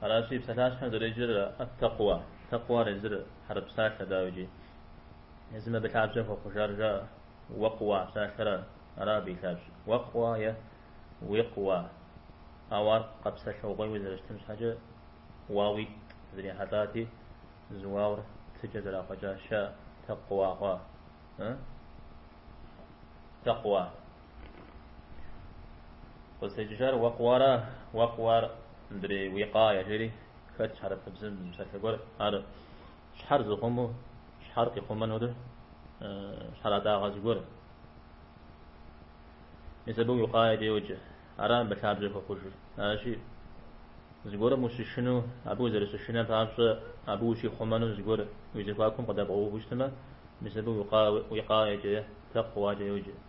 Аращи, псалъащхьэм зэреджэр ат-такъуа, такъуар езыр хьэрып псалъэ, дауикӏи, езым абы лъабжьэ хуэхъужар жаӏэ, уэкъуа псалъэра, ара абы и лъабжьэр, уэкъуа е уикъуа. Ауэ ар къэпсэлъыгъуейуэ зэрыщытым щхьэкӏэ уауитӏ зэрихьэлӏати, зы уаур тыкӏэ зэрахъуэкӏа жаӏэ, такъуа хъуа. Такъуа. Къызытекӏыжар уэкъуара, уэкъуар мыдрей уикъая жери, хэтщ хьэрыпыбзэм и псалъэ гуэр, ар щхьэр зыхъуму, щхьэр къихъумэнур щхьэратӏагъэ зыгуэр. Мис абы уикъаякӏэ йоджэ, ара мыбы лъабжьэ хуэхъужыр. Аращи, зыгуэрым ущышыну, абы узэрыщышынэм папщӏэ, абы ущихъумэну зыгуэр уи зэхуакум къыдэбгъэуву щытмэ, мис абы уикъаякӏэ, такъуакӏэ йоджэ.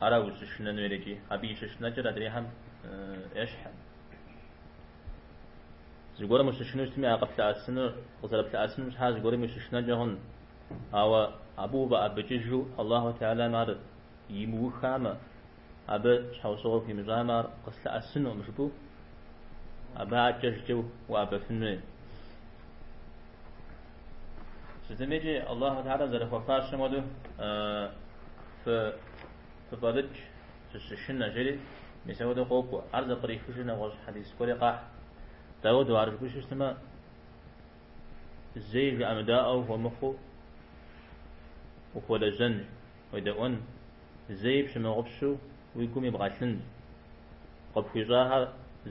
Ара ущышынэнур икӏи, абы и щышынэкӏэр адрейхэм ещхькъым. Зыгуэрым ущышыну щытми, ар къыплъэӏэсынур, къызэрыплъэӏэсынум щхьа зыгуэрым ущышынэнкӏэ хъун. Ауэ абы уфӏэӏэбыкӏыжу Аллаху Теалам ар имыухамэ, Абы щхьэусыгъуэ хуимыщӏамэ, ар къыслъэӏэсынукъым жыпӏэу, абы адэкӏэжкӏэ уӏэбэфын хуей. Сытми икӏи Аллаху Теалэм зэрыхуэфащэм хуэдэу фыфӏэлыкӏ, фыщышынэ, жери мис апхуэдэу къокӏуэ. Ар зэпкърихыжу нэгъуэщӏ хьэдис гуэри къахь. Дауду ар жыпӏэу щытмэ, зэи жыӏэмыдаӏуэу ухуэмыхъуу ухуэлэжьэнщ. Уедэӏуэн, зэи пщымыгъупщу уи гум ибгъэлъынщ. Къыпхуищӏахэр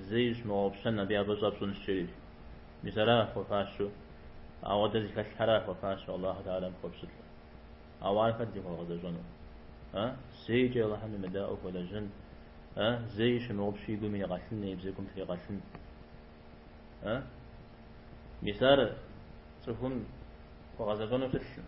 зэи пщымыгъупщэн абы я фӏыщӏэ пщӏынщ жери. Мис ара хуэфащэу? Ауэ дэ зыхэлъхьэра хуэфащэу Аллаху Теалэм хуэпщылӏыр? Ауэ ар хэт зыхуэгъэзэщӏэну? Э? Зэикӏ Аллахьым емыдаӏуэу хуэлэжьын? Э? Зэи щымыгъупщу и гум иригъэлъын, и бзэгум тригъэлъын? Э? Мис ар цӏыхум хуэгъэзэщӏэну плъылъым.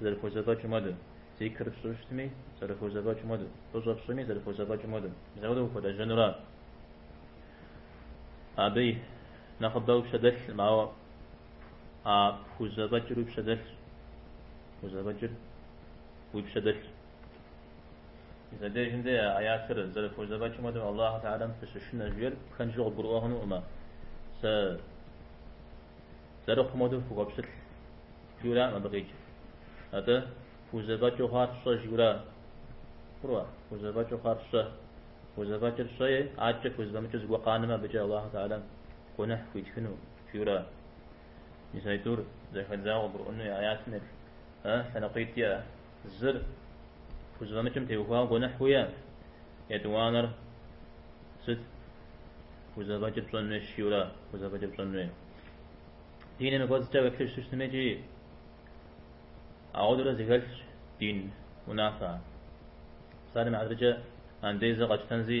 Зэрыпхузэфӏэкӏым хуэдэу. Зикр пщӏыу щытми, зэрыпхузэфӏэкӏым хуэдэу. Фӏыщӏэ пщӏыми, зэрыпхузэфӏэкӏым хуэдэу. Заурэ ухуэлэжьэнура? Абы и нэхъыбэ уи пщэдэлъкъым, ауэ а пхузэфӏэкӏыр уи пщэдэлъщ. Пхузэфӏэкӏыр уи пщэдэлъщ. Мыбдежым дей а аятыр зэрыфхузэфӏэкӏым хуэдэу Аллаху Теалэм фыщышынэ жиӏэр пхэнжу къыбгурыӏуэ хъунукъым-ма? Сэ Зэрыхъум хуэдэу фыхуэпщылӏ, жиӏэу аракъым абы къикӏ. Атӏэ, фхузэфӏэкӏыу хъуар фщӏэ жиӏэу ара? Хъурэ, фхузэфӏэкӏыу хъуар фщӏэ. Пхузэфӏэкӏыр щӏэи, адэкӏэ пхузэфӏэмыкӏыу зыгуэр къанэмэ, абыкӏэ Аллаху Теалэм гуэныхь пхуитхыну жиӏэу ара? Мис аитӏур зэхэдзауэ къыбгурыӏуэн хуей аятым епщӏ, э, лъэныкъуитӏ иӏэ. Зыр пхузэфӏэмыкӏым теухуауэ гуэныхь уиӏэ? Етӏуанэр сыт? Пхузэфӏэкӏыр пщӏэн хуей жиӏэурэ, пхузэфӏэкӏыр пщӏэн хуей. Диным и кӏуэцӏкӏэ уеплъыжу щытми икӏи ауэдэурэ зэхэлъщ дин унафэ. Псалъэм и хьэтыркӏэ андезэ къэкӏтэнзи,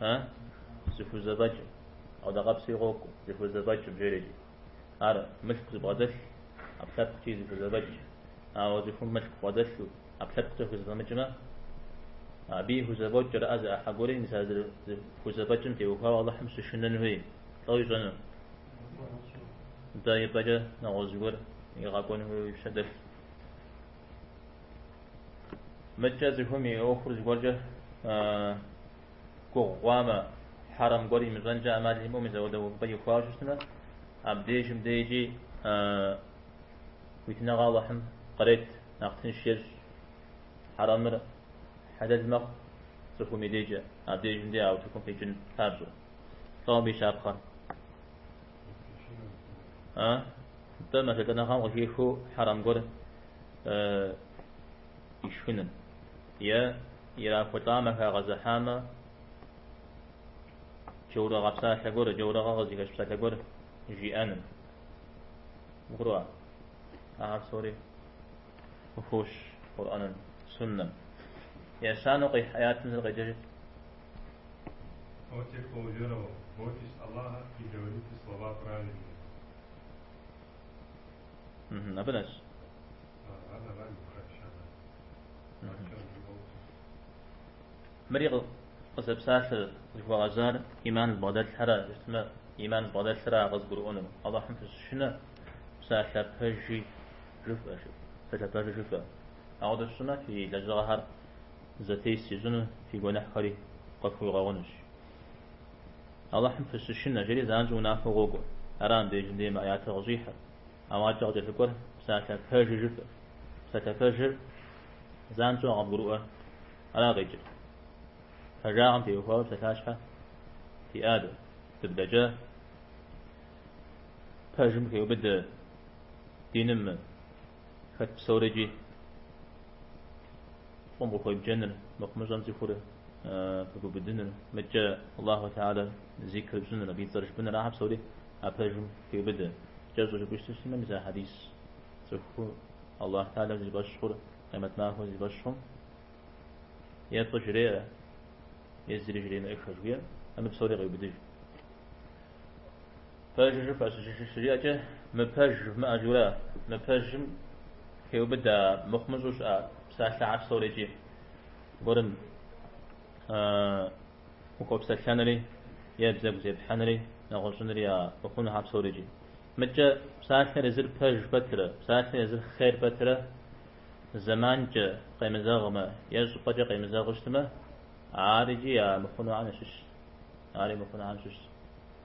А? Зыхузэфӏэкӏ. Къэудакъэпсри къокӏу. Зыхузэфӏэкӏ жери икӏи. Ар мылъку зыбгъэдэлъ, ӏэпкълъэпкъкӏи зыхузэфӏэкӏ. Ауэ цӏыхум мылъку бгъэдэлъу, ӏэпкълъэпкъкӏэ хузэфэмыкӏмэ, абы и хузэфӏэкӏ кӏэрыӏэ зы ӏыхьэ гуэри мис ар зыхузэфӏэкӏым теухуауэ Алыхьым щышынэн хуей. Лӏо ищӏэну. Дэ ипӏэкӏэ нэгъуэщӏ зыгуэр игъэкӏуэн хуейуэ и пщэ дэлъ. Мыдкӏэ цӏыхум и ӏуэхур зыгуэркӏэ гугъу хъуамэ, хьэрэм гуэр имыщӏэнкӏэ ӏэмал имыӏэу мис ауэдэ увыпӏэ ихуауэ щытмэ, абдежым дежи хуитыныгъэ Аллахьым кърет, нэхъ тынш ещӏ. Хьэрэмыр хьэлэл мэхъу цӏыхум и дежкӏэ, абдежым де а утыкум къикӏын папщӏэ. Лӏо абы и щапхъэр. А? Дэ мэжэлӏэныгъэм къыхихыу хьэрэм гуэр ишхыным е ирахулӏамэ, хагъэзыхьамэ, джаурыгъэ псалъэ гуэр, джаурыгъэ къызыхэщ псалъэ гуэр жиӏэным. Гурыӏуа? Ахэр псори къыхощ Къурӏэным, Суннэм. Ещанэу къихь аятым зыр къеджэжыт. Абы нэс. Мыри къызэпсалъэр зыхуэгъэзар иман зыбгъэдэлъхэра щытмэ, иман зыбгъэдэлъхэра къызыгурыӏуэну. Аллахьым фыщышынэ, псалъэ пэжи жыфӏэ, псалъэ пэжи жыфӏэ. Ауэдэу фщӏымэ, фи лэжьыгъэхэр зэтес ищӏыну, фи гуэныхьхэри къыфхуигъэгъунущ. Алыхьым фыщышынэ, жери занщӏэу унафэу къокӏуэ. Ара мыбдежым де мы аятыр къыщӏихьыр? Ауэ адэкӏэ къыкӏэлъыкӏуэр псалъэ пэжыр жыфӏэщ. Псалъэ пэжыр занщӏэу къэбгурыӏуэр ара къикӏыр? Пэжагъым теухуауэ псалъащхьэ фиӏа дэ? Дыблэкӏа? Пэжым хеубыдэ диным мы? Хэт псори икӏи фӏым къыхуебджэныр, мыхъумыщӏэм цӏыхур пыгубыдыныр, мыдкӏэ Аллаху Теала зикр пщӏыныр, абы и цӏэр жыпӏэныр, ахэр псори а пэжым хеубыдэ. Кӏэщӏу жыпӏэу щытмэ, мис а хьэдис цӏыху Аллаху Теалэм зи фӏэщ хъур, къемэт махуэм зи фӏэщ хъум, е фӏы жреӏэ, е зыри жремыӏэххэ жыхуиӏэм, абы псори къеубыдыж. Пэж жыфӏэ щыжиӏэкӏэ, мыпэж жывмыӏэ жыурэ, мыпэжым хеубыдэ мыхъумыщӏэу щыӏэ псалъэхьэр псори икӏи. Гуэрым ухуэпсэлъэнри е бзэгу зепхьэнри нэгъуэщӏынри я мыхъунухьэр псори икӏи. Мыдэкӏэ псалъэр езыр пэж пэтрэ, псалъэр езыр хъер пэтрэ зэманкӏэ къемызэгъмэ е щӏыпӏэкӏэ къемызэгъу щытмэ, ар икӏи я мыхъунухьэм щыщ. Ари мыхъунухьэм щыщ.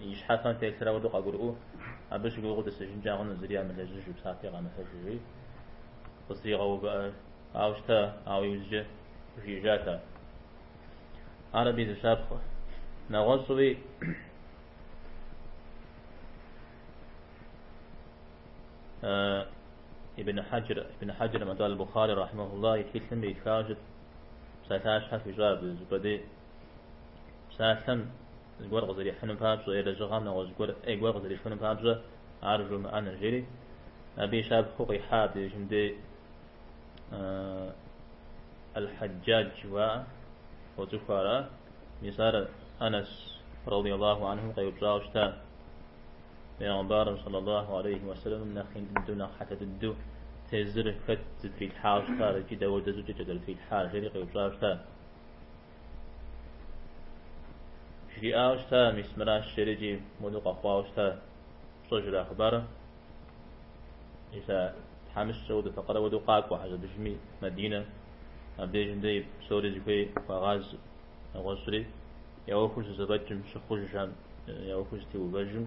И щхьэфэм телъыр ауэдэу къагурыӏуэу, абы щыгугъыу тӏысыжынкӏэ хъуну зыри ямылэжьыжу, псапэ игъэмылъэжыжи, къызэтригъэувыӏауэ щыта, ауэ иужькӏэ, жиӏэжат ар. Ар абы и зыщапхъэ. Нэгъуэщӏуи, Ибн Хьэджыр, Ибн Хьэджыр Мадуа аль-Бухари рахьмэхулла и тхылъым иритхауэ щыта псалъащхьэ хуищӏа абы зыпӏэ дей псалъэм зыгуэр къызэрихьыным папщӏэ е лэжьыгъэм нэгъуэщӏ гуэр ӏей гуэр къызэрихьыным папщӏэ ар жумыӏэныр, жери, абы и щапхъэу къихьа абы дежым дей Аль-Хьэджаджь жыхуаӏэ, уэцӏыху ара? Мис ар Анэс радиаллаху анхум къеупщӏауэ щыта, Пэйгъэмбарым саллаллаху алейхи уэсэлэмым нэхъ ин дыдэу нэхъ хьэлъэ дыдэу тезыр хэт зытрилъхьауэ щытар икӏи дауэдэ щӏыкӏэкӏэ зэрытрилъхьар, жери къеупщӏауэ щыта. Жриӏауэ щыта, мис мыращ жери икӏи моуэду къэхъуауэ щыта, пщӏэжрэ а хъыбарыр? Иса тхьэмыщкӏэ уэду факъырэ уэду къакӏуэ хьэжэбыжми Мадинэ, абдежым дей псори зыхуей хуагъаз нэгъуэщӏри, я ӏуэхур зызэфӏэкӏым щыхъужам, я ӏуэхур зытеувэжым,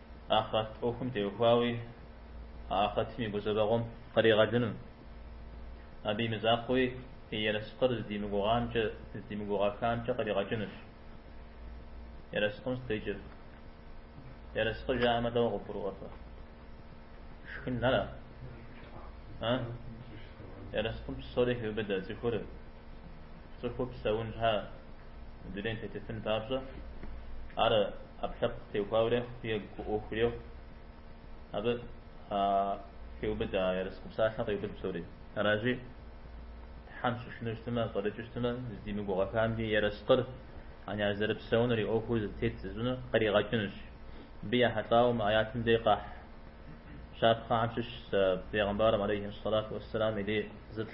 Ахърэт ӏуэхум теухуауи Ахърэтым и гузэвэгъуэм къригъэлыну, абы и мызакъуэуи и ерыскъыр здимыгугъамкӏэ, здимыгугъэхамкӏэ къригъэкӏынущ. Ерыскъым сыт икӏыр. Ерыскъы жаӏэмэ дауэ къыбгурыӏуэрэ? Шхын ара? А? Ерыскъым псори хеубыдэ, цӏыхур цӏыхуу псэун щхьа? Мы дунейм тетыфын папщӏэ, ар ӏэпкълъэпкъ теухуауэ рехъу е гу ӏуэху рехъу. Абы къыхеубыдэ а ерыскъы псалъэм, къеубыд псори. Аращи, Тхьэм щышыну щытмэ, щӏэлӏыкӏыу щытмэ, здимыгугъэхамкӏи, ерыскъыр, ани ар зэрыпсэунур и ӏуэхур зэтет зыщӏынур къригъэкӏынущ. Мыбы ехьэлӏауэ мы аятым дей къахь щапхъэхэм щыщщ Пегъымбарым алейхьи сэлату уэсселам и дей зы лӏы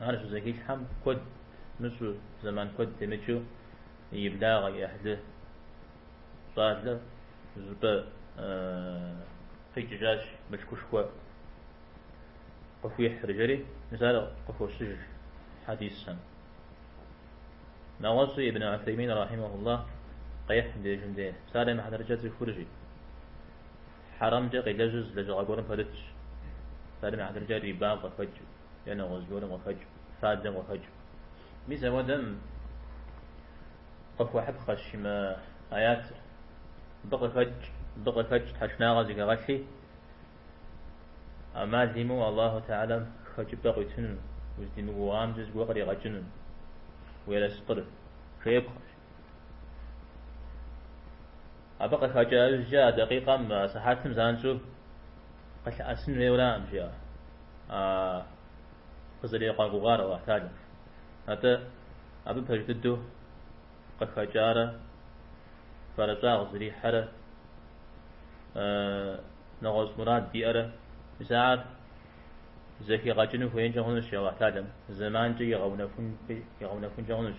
Ар щызэхилъхьэм куэд мыщӏу, зэман куэд темыкӏыу и благъэ, и ӏыхьлы щӏалэр зыщӏыпӏэ къикӏыжащ мылъкушхуэ къыхуихьри, жери мис ар къыхощыж хьэдисхэм. Нэгъуэщӏи Ибн Усеймин рахьимэхуллахь къехь мыбдежым де, псалъэм и хьэтыркӏэ цӏыхур жи хьэрэмкӏэ къелэжь, зы лэжьыгъэ гуэрым пэрытщ, псалъэм и хьэтыркӏэ риба къыхэкӏыу. е нэгъуэщӏ гуэрым къыхэкӏыу, фадэм къыхэкӏыу. Мис апхуэдэм къыхуэхьыпхъэщ мы аятыр. Мыбы къыхэкӏ, мыбы къыхэкӏ тхьэшынагъэ зыхэгъэлъи, ӏэмал имыу Аллаху Теалэм хэкӏыпӏэ къуитыну, уздимыгугъамкӏэ зыгуэр къригъэкӏыну уи ерыскъыр жеӏэпхъэщ. Абы къыхэкӏыжкӏэ а дакъикъэм, а сыхьэтым занщӏэу къылъыӏэсын хуейуэ аракъым жи къызэригъэгугъар Аллахь Теалэм. Атӏэ абы пэж дыдэу къыхэкӏарэ фэрыщӏагъ зэрихьэрэ нэгъуэщӏ мурад иӏэрэ мис ар зэхигъэкӏыну хуеинкӏэ хъунущ Аллахь Теалэм, зэманкӏэ игъэунэхункӏэ хъунущ.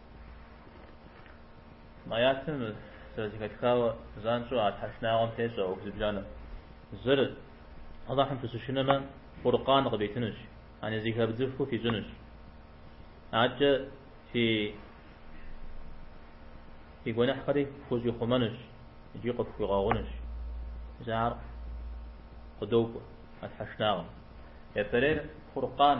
Мы аятым зэрызэхэтхауэ занщӏэу а тхьэшынагъэм тещӏэ ӏуэху зыбжанэм. Зыр, Алыхьым фыщышынэмэ, Фуркъан къывитынущ, яни зэхэвдзыфу фищӏынущ. Адэкӏэ фи фи гуэныхьхэри фхущӏихъумэнущ икӏи къыфхуигъэгъунущ. Мис ахэр къыдокӏуэ а тхьэшынагъэм. Япэрейр Фуркъан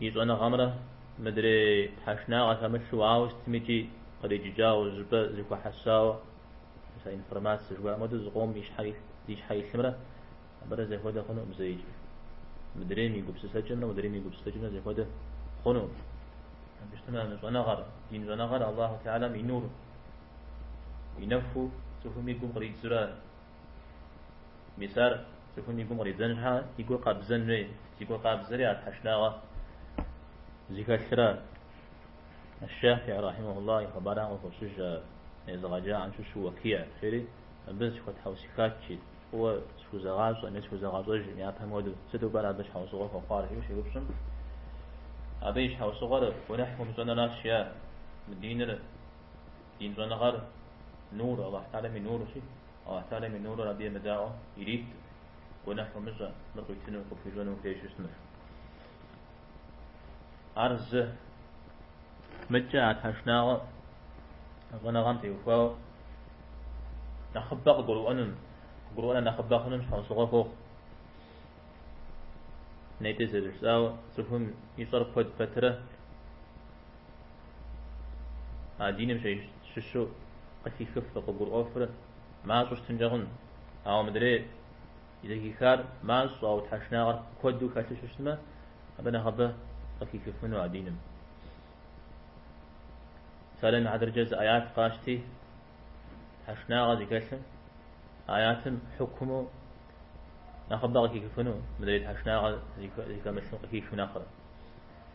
и щӏэныгъэмрэ мыдрей тхьэшнагъэ хэмылъу ауэ сытмикӏи къриджыкӏауэ жыпӏэ зэхуэхьэсауэ информацэ жыхуаӏэм хуэдэу зыкъом и щхьэ илъ- зи щхьэ илъымрэ абырэ зэхуэдэ хъунукъым зэикӏ. Мыдрейм и гупсысэкӏэмрэ мыдрейм и гупсысэкӏэмрэ зэхуэдэ хъунукъым. Абы щытмэ мы щӏэныгъэр, дин щӏэныгъэр Аллаху Теалэм и нур, и нэхуу цӏыхум и гум къридзурэ Мис ар цӏыхум и гум къридзэн щхьа и гур къабзэн хуей? Зи гур къабзэри ар тхьэшынагъэ зыхэлъырэ. Аш-Шафии рахьимэхуллахь и хъыбархэм къыхощыж а езыгъэджахэм щыщу Уэкихь жери, Абы сыхуэтхьэусыхат жи, фӏыуэ схузэгъащӏэкъым, схузэгъащӏэжкъым, япэм хуэдэу, сыту пӏэрэ абы щхьэусыгъуэ хуэхъуар? жиӏэу щеупщӏым, абы и щхьэусыгъуэр гуэныхь умыщӏэныращ, е, мы диныр, Дин щӏэныгъэр нур, Алыхь Тэхьэлам и нурщи, Алыхь Тэхьэлам и нурыр абы емыдаӏуэ иритт, гуэныхь умыщӏэ, мыр къуитыну, къыпхуищӏэну ухуей щытмэ. Ар зы мыдкӏэ а тхьэшынагъэ щӏэныгъэм теухуауэ нэхъыбэ къыгурыӏуэну, къыгурыӏуэныр нэхъыбэ хъунум щхьэусыгъуэ хуохъу. Нетӏэ зэрыжысӏауэ, цӏыхум и щӏэр куэд пэтрэ, А диным щыщу къыхихыфыр, къыгурыӏуэфыр мащӏэу щытынкӏэ хъун. Ауэ мыдрей зэхихар мащӏэ, ауэ тхьэшынагъэр куэду хэлъу щытмэ, абы нэхъыбэ къыхихыфыну а диным. Мэсэлэн хьэдыркӏэ зы аят къащти, тхьэшынагъэ зыхэлъым, аятым хьукуму нэхъыбэ къыхихыфыну, мыдрей тхьэшынагъэ зыхэмылъым къыхихым нэхърэ.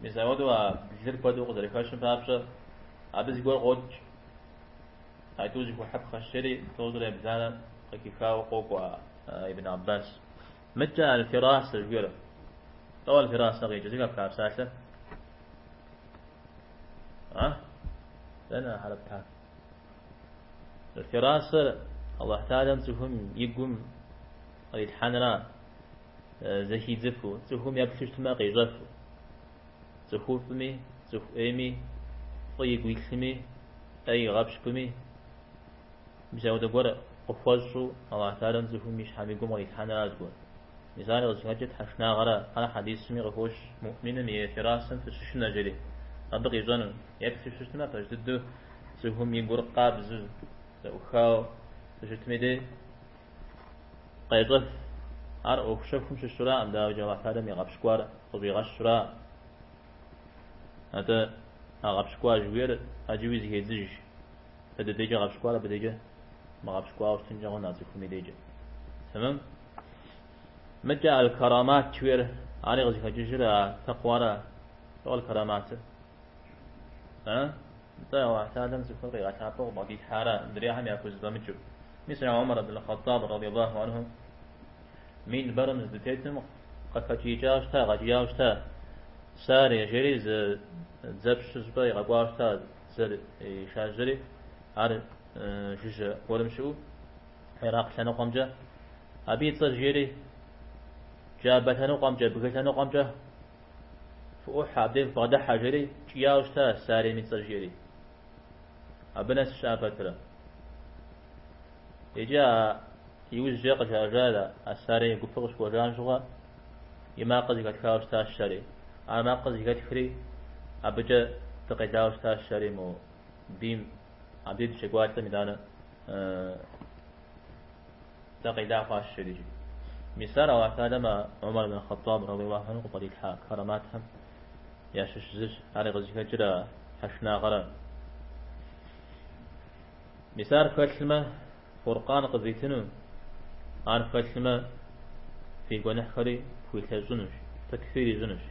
Мис ауэдэу а блыр куэду къызэрыхэщым папщӏэ, абы зыгуэр къокӏ. Ату зыхухьэп хъэщыри, тӏощӏрэ ебланэ къыхихауэ къокӏуэ а. Ибн Аббас. Мыдкӏэ аль-Фирасэ жыхуиӏэр. Лӏо аль-Фирасэ къикӏыр, зыри къэпха псалъэ? А? Дэнэ хьэрып-тӏэ? Аль-Фирасэр Аллахь Таалям цӏыхум и гум кърилъхьэнра? зэхидзыфу, цӏыхум еплъу щытмэ къещӏэфу, цӏыхуфӏми, цӏыху ӏейми, фӏы игу илъыми, ӏей игъэпщкӏуми, мисауэдэ гуэр къыхуэщӏу Алыхь Тэхьэлам цӏыхум и щхьэм и гум кърилъхьэнра зыгуэр. Мис ар къызыхэкӏыр тхьэшынагъэра, ар хьэдисми къыхощ, муӏминым и фирасэм фыщышынэжри, абы къищӏэну, еплъу щытмэ пэж дыдэу цӏыхум и гур къабзэу, зэӏухауэ, щыщытым и дей, Къещӏэф. Ар ӏуэху щэхум щыщыраӏым, дауикӏ Алыхь Тэхьэлам и гъэпщкӏуар къыщӏигъэщра? Атӏэ, а гъэпщкӏуа жыхуиӏэр ӏэджэуи зыхедзыж. Дэ ди декӏэ гъэпщкӏуар абы декӏэ мыгъэпщкӏуауэ щытынкӏэ хъуну а цӏыхум и декӏэ. Тэмэм? Мыдкӏэ аль-карамат жыхуиӏэр ари къызыхэкӏыжыр а тэкъуара? Лӏо аль-караматыр? А? Нтӏэ, Алыхь Тэхьэлам цӏыхур къигъэлъапӏэу къыбгъэдилъхьара адрейхэм яхузэфӏэмыкӏыу? Мис а Умар ибн Хъаттаб радияллаху анху минбэрым здытетым къыхэкӏиикӏауэ щыта, къэкӏияуэ щыта, Сарие жери зы дзэпщ зы щӏыпӏэ игъэкӏуауэ щыта дзэр иришажьэри, ар жыжьэ гуэрым щыӏэу Иракъ лъэныкъуэмкӏэ, абы и цӏэр жери Джабэ лъэныкъуэмкӏэ, бгы лъэныкъуэмкӏэ. Фыӏухьэ, абдеж бгъэдыхьэ, жери, джауэ щыта Сарем и цӏэр жери. Абы нэс щыӏэ пэтрэ. Иджы а иужькӏэ къыжаӏэжар а Сарем и гупыр къыщыкӏуэжам щыгъуэ и макъыр зыхэтхауэ щытащ жери. Ар макъыр зыхэтхри, абыкӏэ дыкъелауэ щытащ жери мо бийм, абдеж дыщекӏуалӏэм итӏанэ. Дыкъела хъуащ жери. Мис ар Аллахь Тэхьэлам а Умар ибн Хъэттӏаб, радиаллаху анху, къыхилъхьа караматхэм ящыщ зыщ. Ар къызыхэкӏыр а тхьэшынагъуэращ. Мис ар фхэлъмэ, Фуркъан къывитынущ, ар фхэлъмэ, фи гуэныхьхэри фхуилъэщӏынущ, текфир ищӏынущ.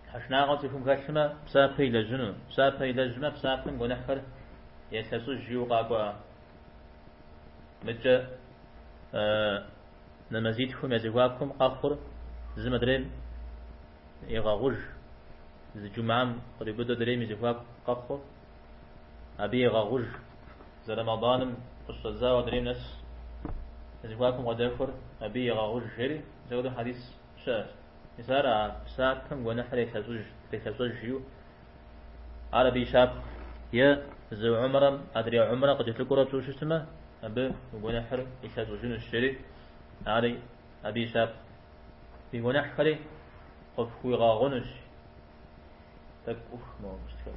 Тхьэшынагъуэ цӏыхум хэлъмэ, псапэ илэжьыну, псапэ илэжьмэ, псапэм гуэныхьхэр елъэщӏыж жиӏэу къакӏуэ мыбыкӏэ нэмэзитхум я зэхуакум къэхъур зым адрейм егъэгъуж, зы джумам къриубыдэу адрейм и зэхуаку къэхъур абы егъэгъуж, зы Рэмэданым къыщӏэдзауэ адрейм нэс я зэхуакум къыдэхуэр абы егъэгъуж жери, апхуэдэу хьэдис щыӏэщ. Мис ар а псапэм гуэныхьыр елъэщӏыж, елъэщӏыж жиӏэу ар абы и щапхъэщ. Е зы умрэм адрей умрэ къыкӏэлъыкӏуэурэ пщӏыу щытмэ, абы уи гуэныхьыр илъэщӏыжынущ, жери ар абы и щапхъэщ. Уи гуэныхьхэри къыпхуигъэгъунущ. Тӏэкӏу ӏух мыгъэгущтхэр.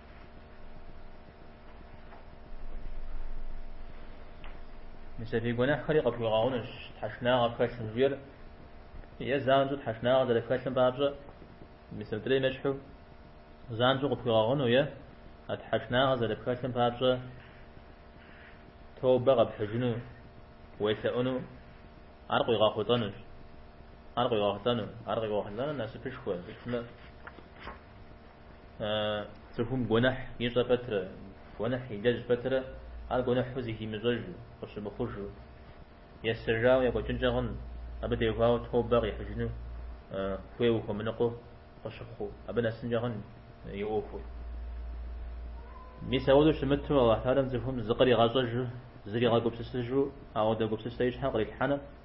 Мис а фи гуэныхьхэри къыпхуигъэгъунущ тхьэшынагъэ пхэлъмэ жиӏэр е занщӏэу тхьэшынагъэ зэрыпхэлъым папщӏэ мис мыдрейм ещхьу занщӏэу къыпхуигъэгъуну е а тхьэшынагъэ зэрыпхэлъым папщӏэ тобэ къэпхьыжыну уелъэӏуну ар къуигъэхъулӏэнущ ар къуигъэхъулӏэну ар къуигъэхъулӏэну насыпышхуэ иӏэмэ Цӏыхум гуэныхь ищӏэ пэтрэ, гуэныхь илэжь пэтрэ, ар гуэныхьу зыхимыщӏэжу, къыщымыхъужу, есэжауэ екӏуэкӏынкӏэ хъунщ, абы деж хуэдэу тобэ къихьыжыну хуейуэ хуэмыныкъуэу къыщыхъуу, абы нэсынкӏэ хъунщ и ӏуэхур. Мис ауэдэу щымыту Аллахь Тэхьэлам цӏыхум зыкъригъэщӏэжу, зригъэгупсысыжу ауэдэ гупсысэ и щхьэм кърилъхьэну?